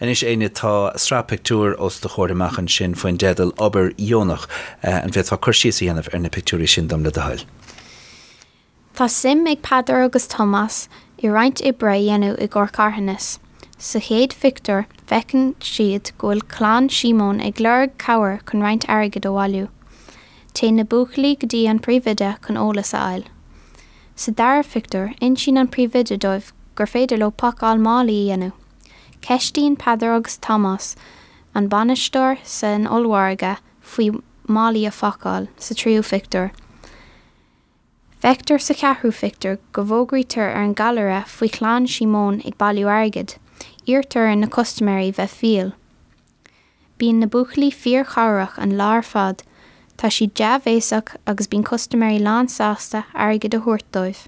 Anois Enya tá sraith pictiúir os do chomhair amach ansin faoin dteideal 'Obair Dheonach'. An bhféadfá cur síos a dhéanamh ar na pictiúirí sin dom le do thoil? Tá suim ag Peadar agus Tomás i roinnt oibre a dhéanamh i gcomhair carthanas. Sa chéad phictiúr feiceann siad go bhfuil clann Síomóin ag lorg cabhair chun roinnt airgid a bhailiú. Téann na buachaillí go dtí an príomhoide chun eolas a fháil. Sa dara phictiúr insíonn an príomhoide dóibh gur féidir leo pacáil málaí a dhéanamh. Ceistíonn Peadar agus Tomás an bainisteoir san ollmhargadh faoi mhálaí a phacáil, sa tríú phictiúr. Feictear sa cheathrú phictiúr go bhfógraítear ar an gcallaire faoi chlann Shíomóin ag bailiú airgid. Iarrtar ar na custaiméirí bheith fial. Bíonn na buachaillí fíor-chabhrach an lá ar fad, tá siad dea-bhéasach agus bíonn custaiméirí lán-sásta airgead a thabhairt dóibh.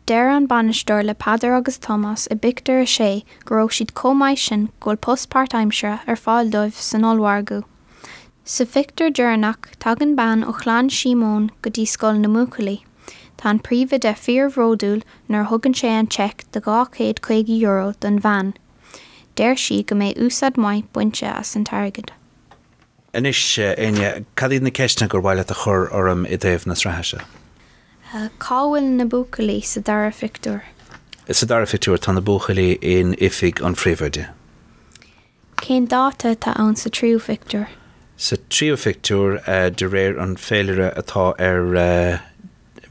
Deir an bainisteoir le Peadar agus Tomás i bpictiúr a sé go raibh siad chomh maith sin go bhfuil post páirt-aimsire ar fáil dóibh san ollmhargadh. Sa phictiúr deireanach, tagann bean ó chlann Shíomóin go dtí scoil na mbuachaillí. Tá an príomhoide fíor-bhródúil nuair a thugann sé an seic de €250 don bhean. Deir sí go mbeidh úsáid maith bainte as an t-airgead. Anois, a Enya, cad iad na ceisteanna gur mhaith leat a chur orm i dtaobh na sraithe seo? Cá bhfuil na buachaillí sa dara phictiúr? Sa dara phictiúr, tá na buachaillí in oifig an phríomhoide. Cén dáta atá ann sa tríú phictiúr? Sa tríú phictiúr, de réir an féilire atá ar.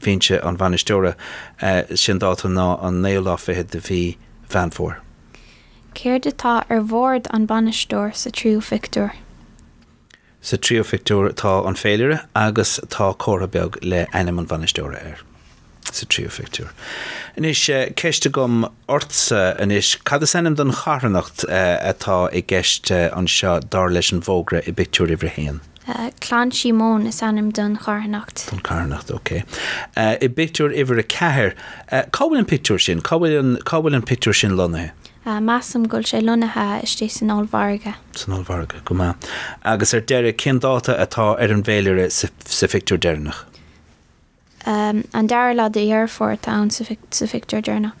bhinse an bhainisteora is é an dáta ná an naoú lá fichead de mhí Mheán Fómhair. Céard atá ar bhord an bainisteoir sa tríú phictiúr? Sa tríú phictiúr tá an féilire agus tá comhartha beag le ainm an bhainisteora air. Sa tríú phictiúr. Anois, ceist agam ortsa anois, cad is ainm don charthanacht atá i gceist anseo dar leis an bhfógra i bpictiúr uimhir a haon? Clann Shíomóin is ainm don charthanacht. Don charthanacht, ok. I bpictiúr uimhir a ceathair, cá bhfuil an pictiúr sin? Cá bhfuil an, cá bhfuil an pictiúr sin lonnaithe? Measaim go bhfuil sé lonnaithe istigh san ollmhargadh. San ollmhargadh, go maith. Agus ar deireadh, cén dáta atá ar an bhféilire sa phictiúr deireanach? An dara lá de Dheireadh Fómhair atá ann sa phictiúr deireanach.